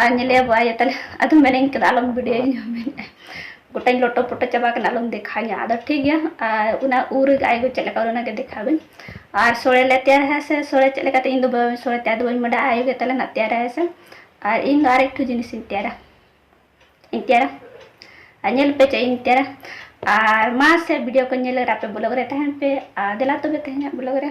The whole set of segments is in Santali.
ᱟᱨ ᱧᱮᱞᱮᱭᱟ ᱵᱟᱭᱟ ᱛᱟᱦᱞᱮ ᱟᱫᱚ ᱢᱮᱱᱟᱹᱧ ᱠᱟᱱᱟ ᱟᱞᱚᱢ ᱵᱷᱤᱰᱤᱭᱳᱧ ᱢᱮᱱᱮᱫᱼᱟ ᱜᱚᱴᱟᱧ ᱞᱚᱴᱚ ᱯᱚᱴᱚ ᱪᱟᱵᱟ ᱠᱟᱱᱟ ᱟᱞᱚᱢ ᱫᱮᱠᱷᱟᱣᱧᱟ ᱟᱫᱚ ᱴᱷᱤᱠ ᱜᱮᱭᱟ ᱟᱨ ᱚᱱᱟ ᱩ ᱨᱮᱜᱮ ᱟᱭᱜᱚ ᱪᱮᱫ ᱞᱮᱠᱟ ᱚᱱᱟ ᱜᱮ ᱫᱮᱠᱷᱟᱣᱟᱹᱧ ᱟᱨ ᱥᱚᱲᱮ ᱞᱮ ᱛᱮᱭᱟᱨᱟ ᱦᱮᱸ ᱥᱮ ᱥᱚᱲᱮ ᱪᱮᱫ ᱞᱮᱠᱟᱛᱮ ᱤᱧ ᱫᱚ ᱵᱟᱹᱧ ᱥᱚᱲᱮ ᱛᱮᱭᱟᱨ ᱫᱚ ᱵᱟᱹᱧ ᱵᱟᱰᱟᱭᱟ ᱟᱭᱳ ᱜᱮ ᱛᱟᱞᱮ ᱱᱟᱜ ᱛᱮᱭᱟᱨᱟ ᱦᱮᱸ ᱥᱮ ᱟᱨ ᱤᱧ ᱫᱚ ᱟᱨ ᱮᱠᱴᱩ ᱡᱤᱱᱤᱥᱤᱧ ᱛᱮᱭᱟᱨᱟ ᱤᱧ ᱛᱮᱭᱟᱨᱟ ᱟᱨ ᱧᱮᱞ ᱯᱮ ᱪᱮᱫ ᱤᱧ ᱛᱮᱭᱟᱨᱟ ᱟᱨ ᱢᱟ ᱥᱮ ᱵᱷᱤᱰᱤᱭᱳ ᱠᱚ ᱧᱮᱞ ᱨᱮ ᱟᱯᱮ ᱵᱞᱚᱜ ᱨᱮ ᱛᱟᱦᱮᱱ ᱯᱮ ᱟᱨ ᱫᱮᱞᱟ ᱛᱚᱵᱮ ᱛᱮᱦᱮᱧᱟᱜ ᱵᱞᱚᱜ ᱨᱮ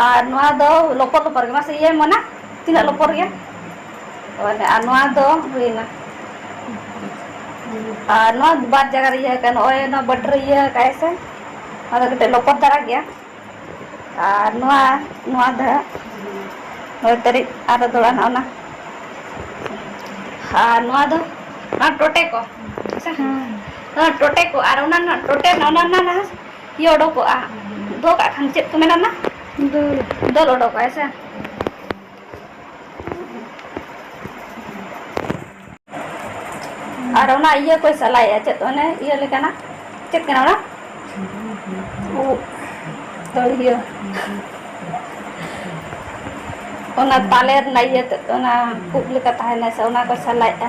ᱟᱨ ᱱᱚᱣᱟ ᱫᱚ ᱞᱚᱯᱚᱨ ᱞᱚᱯᱚᱨ ᱜᱮ ᱢᱟᱥᱮ ᱤᱭᱟᱹᱭ ᱢᱚᱱᱟ ᱛᱤᱱᱟᱹᱜ ᱦᱮᱸ ᱞᱚᱯᱚᱲ ᱜᱮᱭᱟ ᱟᱨ ᱱᱚᱣᱟ ᱫᱚ ᱦᱩᱭᱱᱟ ᱟᱨ ᱱᱚᱣᱟ ᱵᱟᱨ ᱡᱟᱭᱜᱟ ᱨᱮ ᱤᱭᱟᱹ ᱟᱠᱟᱱᱟ ᱱᱚᱜᱼᱚᱭ ᱱᱚᱣᱟ ᱵᱟᱴ ᱨᱮ ᱤᱭᱟᱹ ᱟᱠᱟᱫ ᱟᱭ ᱥᱮ ᱟᱫᱚ ᱠᱟᱹᱴᱤᱡ ᱞᱚᱯᱚᱛ ᱫᱷᱟᱨᱟ ᱜᱮᱭᱟ ᱟᱨ ᱱᱚᱣᱟ ᱱᱚᱣᱟ ᱫᱚ ᱦᱟᱸᱜ ᱱᱚᱭ ᱛᱟᱹᱨᱤᱡ ᱟᱨᱚ ᱫᱚᱦᱲᱟ ᱱᱚᱜᱼᱚ ᱱᱟ ᱟᱨ ᱱᱚᱣᱟ ᱫᱚ ᱚᱱᱟ ᱴᱚᱴᱮ ᱠᱚ ᱦᱮᱸ ᱦᱮᱸ ᱴᱚᱴᱮ ᱠᱚ ᱟᱨ ᱚᱱᱟ ᱨᱮᱱᱟᱜ ᱴᱚᱴᱮ ᱨᱮᱱᱟᱜ ᱚᱱᱟ ᱨᱮᱱᱟᱜ ᱤᱭᱟᱹ ᱚᱰᱚᱠᱚᱜᱼᱟ ᱫᱚᱦᱚ ᱠᱟᱜ ᱠᱷᱟᱱ ᱪᱮᱫ ᱠᱚ ᱢᱮᱱᱟ ᱚᱱᱟ ᱫᱟᱹᱞ ᱫᱟᱹᱞ ᱚᱰᱚᱠᱚᱜᱼᱟ ᱦᱮᱸ ᱥᱮ ᱟᱨ ᱚᱱᱟ ᱤᱭᱟᱹ ᱠᱚᱭ ᱥᱟᱞᱟᱭᱮᱫᱼᱟ ᱪᱮᱫ ᱚᱱᱮ ᱤᱭᱟᱹ ᱞᱮᱠᱟᱱᱟᱜ ᱪᱮᱫ ᱠᱟᱱᱟ ᱚᱱᱟ ᱩᱵ ᱫᱟᱹᱲᱦᱤᱭᱟᱹ ᱚᱱᱟ ᱛᱟᱞᱮ ᱨᱮᱱᱟᱜ ᱤᱭᱟᱹ ᱛᱮᱫ ᱚᱱᱟ ᱩᱵ ᱞᱮᱠᱟ ᱛᱟᱦᱮᱱᱟ ᱥᱮ ᱚᱱᱟ ᱠᱚᱭ ᱥᱟᱞᱟᱭᱮᱫᱼᱟ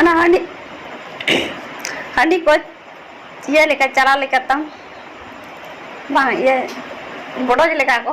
ᱚᱱᱟ ᱦᱟᱺᱰᱤ ᱦᱟᱺᱰᱤ ᱠᱚ ᱤᱭᱟᱹ ᱞᱮᱠᱟ ᱪᱟᱨᱟ ᱞᱮᱠᱟ ᱛᱟᱢ ᱵᱟᱝ ᱤᱭᱟᱹ ᱵᱚᱰᱚᱡᱽ ᱞᱮᱠᱟ ᱠᱚ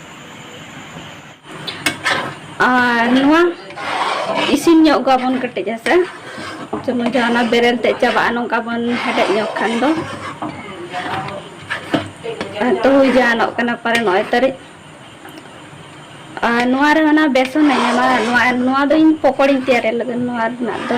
ᱟᱨ ᱱᱚᱣᱟ ᱤᱥᱤᱱ ᱧᱚᱜ ᱠᱚᱣᱟᱵᱚᱱ ᱠᱟᱹᱴᱤᱡ ᱦᱮᱸᱥᱮ ᱡᱮᱢᱚᱱ ᱡᱟᱦᱟᱱᱟᱜ ᱵᱮᱨᱮᱞ ᱛᱮ ᱪᱟᱵᱟᱜᱼᱟ ᱱᱚᱝᱠᱟ ᱵᱚᱱ ᱦᱮᱰᱮᱡ ᱧᱚᱜ ᱠᱷᱟᱱ ᱫᱚ ᱛᱚ ᱦᱩᱭ ᱡᱟᱦᱟᱱᱚᱜ ᱠᱟᱱᱟ ᱯᱟᱨᱮ ᱱᱚᱜᱼᱚᱭ ᱛᱟᱹᱨᱤᱡ ᱟᱨ ᱱᱚᱣᱟ ᱨᱮ ᱚᱱᱟ ᱵᱮᱥᱚᱱ ᱮᱢᱟ ᱱᱚᱣᱟ ᱱᱚᱣᱟ ᱫᱚ ᱤᱧ ᱯᱚᱠᱚᱲᱤᱧ ᱛᱮᱭᱟᱨᱮᱫ ᱞᱟᱹᱜᱤᱫ ᱱᱚᱣᱟ ᱨᱮᱱᱟᱜ ᱫᱚ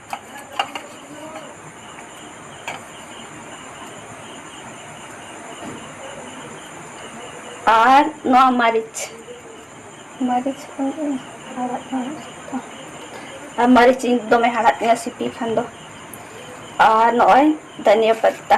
ᱟᱨ ᱱᱚᱣᱟ ᱢᱟᱹᱨᱤᱪ ᱢᱟᱹᱨᱤᱪ ᱠᱚ ᱦᱟᱲᱟᱫ ᱟᱨ ᱢᱟᱹᱨᱤᱪ ᱤᱧ ᱫᱚᱢᱮ ᱦᱟᱲᱦᱟᱫ ᱛᱤᱧᱟᱹ ᱥᱤᱯᱤ ᱠᱷᱟᱱ ᱫᱚ ᱟᱨ ᱱᱚᱜᱼᱚᱭ ᱫᱷᱚᱱᱤᱭᱟᱹ ᱯᱟᱛᱟ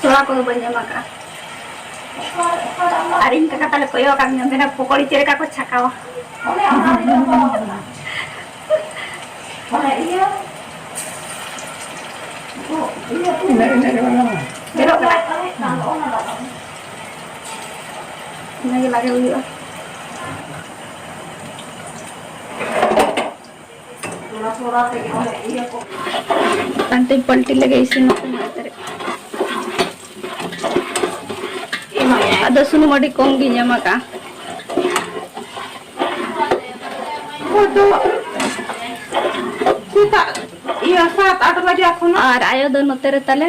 ᱥᱚᱲᱟ ᱠᱚᱫᱚ ᱵᱟᱹᱧ ᱮᱢ ᱟᱠᱟᱫᱼᱟ ᱟᱨ ᱤᱧ ᱠᱟᱠᱟ ᱛᱟᱞᱮ ᱠᱚᱭᱚᱜ ᱟᱠᱟᱫ ᱢᱮᱭᱟ ᱢᱮᱱᱟ ᱯᱚᱠᱚᱲᱤ ᱪᱮᱫ ᱞᱮᱠᱟ ᱠᱚ ᱪᱷᱟᱠᱟᱣᱟ ᱡᱮᱨᱚᱜ ᱠᱟᱱᱟ ᱚᱱᱟᱜᱮ ᱞᱟᱜᱮ ᱦᱩᱭᱩᱜᱼᱟ ᱯᱟᱞᱴᱤ ᱯᱟᱞᱴᱤ ᱞᱮᱜᱮ ᱤᱥᱤᱱ ᱛᱟᱨᱮ ᱟᱫᱚ ᱥᱩᱱᱩᱢ ᱟᱹᱰᱤ ᱠᱚᱢ ᱜᱤᱧ ᱮᱢ ᱟᱠᱟᱜᱼᱟ ᱫᱚ ᱥᱮᱛᱟᱜ ᱤᱭᱟᱹ ᱥᱟᱛ ᱟᱴ ᱵᱟᱡᱟ ᱠᱷᱚᱱ ᱟᱨ ᱟᱭᱳ ᱫᱚ ᱱᱚᱛᱮ ᱨᱮ ᱛᱟᱞᱮ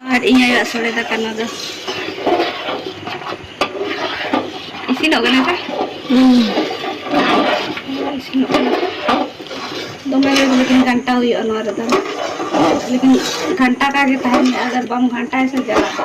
ᱟᱨ ᱤᱧ ᱟᱭᱳᱣᱟᱜ ᱥᱚᱲᱮ ᱫᱟᱠᱟ ᱱᱚᱣᱟ ᱫᱚ ᱤᱥᱤᱱᱚᱜ ᱠᱟᱱᱟ ᱥᱮ ᱤᱥᱤᱱᱚᱜ ᱠᱟᱱᱟ ᱫᱚᱢᱮ ᱞᱮᱠᱤᱱ ᱜᱷᱟᱱᱴᱟ ᱦᱩᱭᱩᱜᱼᱟ ᱱᱚᱣᱟ ᱨᱮᱫᱚ ᱞᱮᱠᱤᱱ ᱜᱷᱟᱱᱴᱟ ᱠᱟᱜ ᱜᱮ ᱛᱟᱦᱮᱱ ᱦᱩᱭᱩᱜᱼᱟ ᱟᱜᱟᱨ ᱵᱟᱢ ᱜᱷᱟᱱᱴᱟᱭᱟ ᱥᱮ ᱡᱟᱞᱟᱜᱼᱟ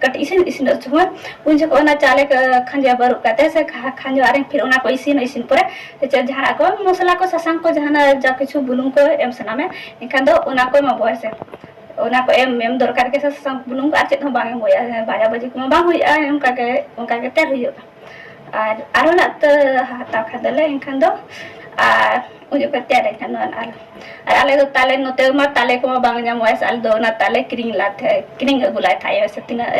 ᱠᱟᱹᱴᱤᱡ ᱤᱥᱤᱱ ᱤᱥᱤᱱ ᱥᱚᱢᱚᱭ ᱩᱱ ᱡᱚᱠᱷᱚᱱ ᱚᱱᱟ ᱪᱟᱣᱞᱮ ᱠᱷᱟᱸᱡᱚ ᱵᱟᱹᱨᱩᱵ ᱠᱟᱛᱮ ᱥᱮ ᱠᱷᱟᱸᱡᱚ ᱟᱨᱮᱧ ᱯᱷᱤᱨ ᱚᱱᱟ ᱠᱚ ᱤᱥᱤᱱ ᱤᱥᱤᱱ ᱯᱚᱨᱮ ᱪᱮᱫ ᱡᱟᱦᱟᱱᱟᱜ ᱠᱚ ᱢᱚᱥᱞᱟ ᱠᱚ ᱥᱟᱥᱟᱝ ᱠᱚ ᱡᱟᱦᱟᱱᱟᱜ ᱡᱟ ᱠᱤᱪᱷᱩ ᱵᱩᱞᱩᱝ ᱠᱚ ᱮᱢ ᱥᱟᱱᱟ ᱢᱮ ᱮᱱᱠᱷᱟᱱ ᱫᱚ ᱚᱱᱟ ᱠᱚ ᱮᱢᱟ ᱵᱚᱭᱟ ᱥᱮ ᱚᱱᱟ ᱠᱚ ᱮᱢ ᱮᱢ ᱫᱚᱨᱠᱟᱨ ᱜᱮ ᱥᱟᱥᱟᱝ ᱵᱩᱞᱩᱝ ᱟᱨ ᱪᱮᱫ ᱦᱚᱸ ᱵᱟᱝ ᱮᱢ ᱵᱚᱭᱟ ᱵᱷᱟᱡᱟ ᱵᱷᱟᱹᱡᱤ ᱠᱚᱢᱟ ᱵᱟᱝ ᱦᱩᱭᱩᱜᱼᱟ ᱚᱱᱠᱟ ᱜᱮ ᱚᱱᱠᱟ ᱜᱮ ᱛᱮᱭᱟᱨ ᱦᱩᱭᱩᱜᱼᱟ ᱟᱨ ᱟᱨᱚ ᱱᱟᱜ ᱛᱚ ᱦᱟᱛᱟᱣ ᱠᱷᱟᱱ ᱫᱚᱞᱮ ᱮᱱᱠᱷᱟᱱ ᱫᱚ ᱟᱨ ᱩᱱ ᱡᱚᱠᱷᱚᱱ ᱛᱮᱭᱟᱨ ᱮᱱᱠᱷᱟᱱ ᱫᱚ ᱟᱨ ᱟᱨ ᱟᱞᱮ ᱫᱚ ᱛᱟᱞᱮ ᱱᱚᱛᱮ ᱢᱟ ᱛᱟᱞᱮ ᱠᱚᱢᱟ ᱵᱟᱝ ᱧᱟᱢᱚᱜᱼᱟ ᱥᱮ ᱟᱞᱮ ᱫᱚ ᱚᱱᱟ ᱛᱟᱞᱮ ᱠᱤᱨᱤᱧ ᱞᱟᱜ ᱛᱟᱦᱮᱸ ᱠᱤᱨᱤᱧ ᱟᱹᱜᱩ ᱞᱟᱜ ᱛᱟᱦᱮᱸ ᱥᱮ ᱛᱤᱱᱟᱹᱜ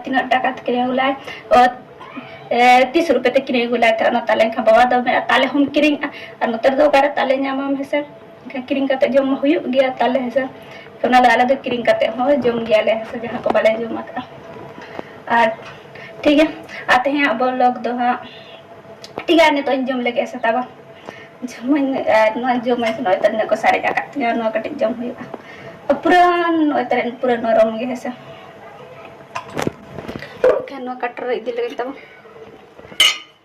ᱛᱤᱱᱟᱹᱜ ᱴᱟᱠᱟ ᱛᱮ ᱠᱤᱨᱤᱧ ᱟᱹᱜᱩ ᱞᱟᱜ ᱛᱤᱥ ᱨᱩᱯᱮ ᱛᱮ ᱠᱤᱨᱤᱧ ᱟᱹᱜᱩ ᱞᱟᱜ ᱛᱟᱦᱮᱸ ᱚᱱᱟ ᱛᱟᱞᱮ ᱮᱱᱠᱷᱟᱱ ᱵᱟᱵᱟ ᱫᱚ ᱢᱮᱱᱟ ᱛᱟᱞᱮ ᱦᱚᱢ ᱠᱤᱨᱤᱧᱟ ᱟᱨ ᱱᱚᱛᱮ ᱨᱮᱫᱚ ᱚᱠᱟᱨᱮ ᱛᱟᱞᱮ ᱧᱟᱢᱟᱢ ᱦᱮᱸᱥᱮ ᱮᱱᱠᱷᱟᱱ ᱠᱤᱨᱤᱧ ᱠᱟᱛᱮ ᱡᱚᱢ ᱦᱩᱭᱩᱜ ᱜᱮᱭᱟ ᱛᱟᱦᱚᱞᱮ ᱦᱮᱸᱥᱮ ᱛᱚ ᱚᱱᱟ ᱫᱚ ᱟᱞᱮ ᱫᱚ ᱠᱤᱨᱤᱧ ᱠᱟᱛᱮ ᱦᱚᱸ ᱡᱚᱢ ᱜᱮᱭᱟᱞᱮ ᱦᱮᱸᱥᱮ ᱡᱟᱦᱟᱸ ᱠᱚ ᱵᱟᱞᱮ ᱡᱚᱢ ᱟᱠᱟᱫᱼᱟ ᱟᱨ ᱴᱷᱤᱠ ᱜᱮᱭᱟ ᱟᱨ ᱛᱮᱦᱮᱧᱟᱜ ᱵᱚᱞᱚᱜ ᱫᱚ ᱦᱟᱸᱜ ᱴᱷᱤᱠ ᱜᱮᱭᱟ ᱱᱤᱛᱚᱜ ᱤᱧ ᱡᱚᱢ ᱞᱮᱜᱮ ᱦᱮᱸᱥᱮ ᱛᱟᱵᱟ ᱡᱚᱢᱟᱹᱧ ᱟᱨ ᱱᱚᱣᱟ ᱡᱚᱢᱟᱹᱧ ᱥᱮ ᱱᱚᱜᱼᱚᱭ ᱛᱟᱦᱮᱸ ᱱᱤᱱᱟᱹᱜ ᱠᱚ ᱥᱟᱨᱮᱡ ᱟᱠᱟᱫ ᱛᱤᱧᱟᱹ ᱱᱚᱣᱟ ᱠᱟᱹᱴᱤᱡ ᱡᱚᱢ ᱦᱩᱭᱩᱜᱼᱟ ᱯᱩᱨᱟᱹ ᱱᱚᱜᱼᱚᱭ ᱛᱟᱦᱮᱸ ᱯᱩᱨᱟᱹ ᱱᱚᱨᱚᱢ ᱜᱮ ᱦᱮᱸᱥᱮ ᱮᱱᱠᱷᱟᱱ ᱱᱚᱣᱟ ᱠᱟᱴᱚᱨ ᱨᱮ ᱤᱫᱤ ᱞᱮᱜᱮ ᱛᱟᱵᱚᱱ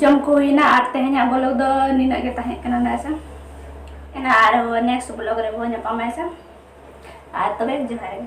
ᱡᱚᱢ ᱠᱚ ᱦᱩᱭᱱᱟ ᱟᱨ ᱛᱮᱦᱮᱧᱟᱜ ᱵᱞᱚᱜ ᱫᱚ ᱱᱤᱱᱟᱹᱜ ᱜᱮ ᱛᱟᱦᱮᱸ ᱠᱟᱱᱟ ᱱᱟᱭᱥᱟ ᱮᱱᱟ ᱟᱨ ᱱᱮᱠᱥᱴ ᱵᱞᱚᱜ ᱨᱮ ᱵᱚᱱ ᱧᱟᱯᱟᱢᱟ ᱱᱟᱭᱥᱟ ᱟᱨ ᱛᱚᱵᱮ ᱡᱚᱦᱟᱨ ᱜᱮ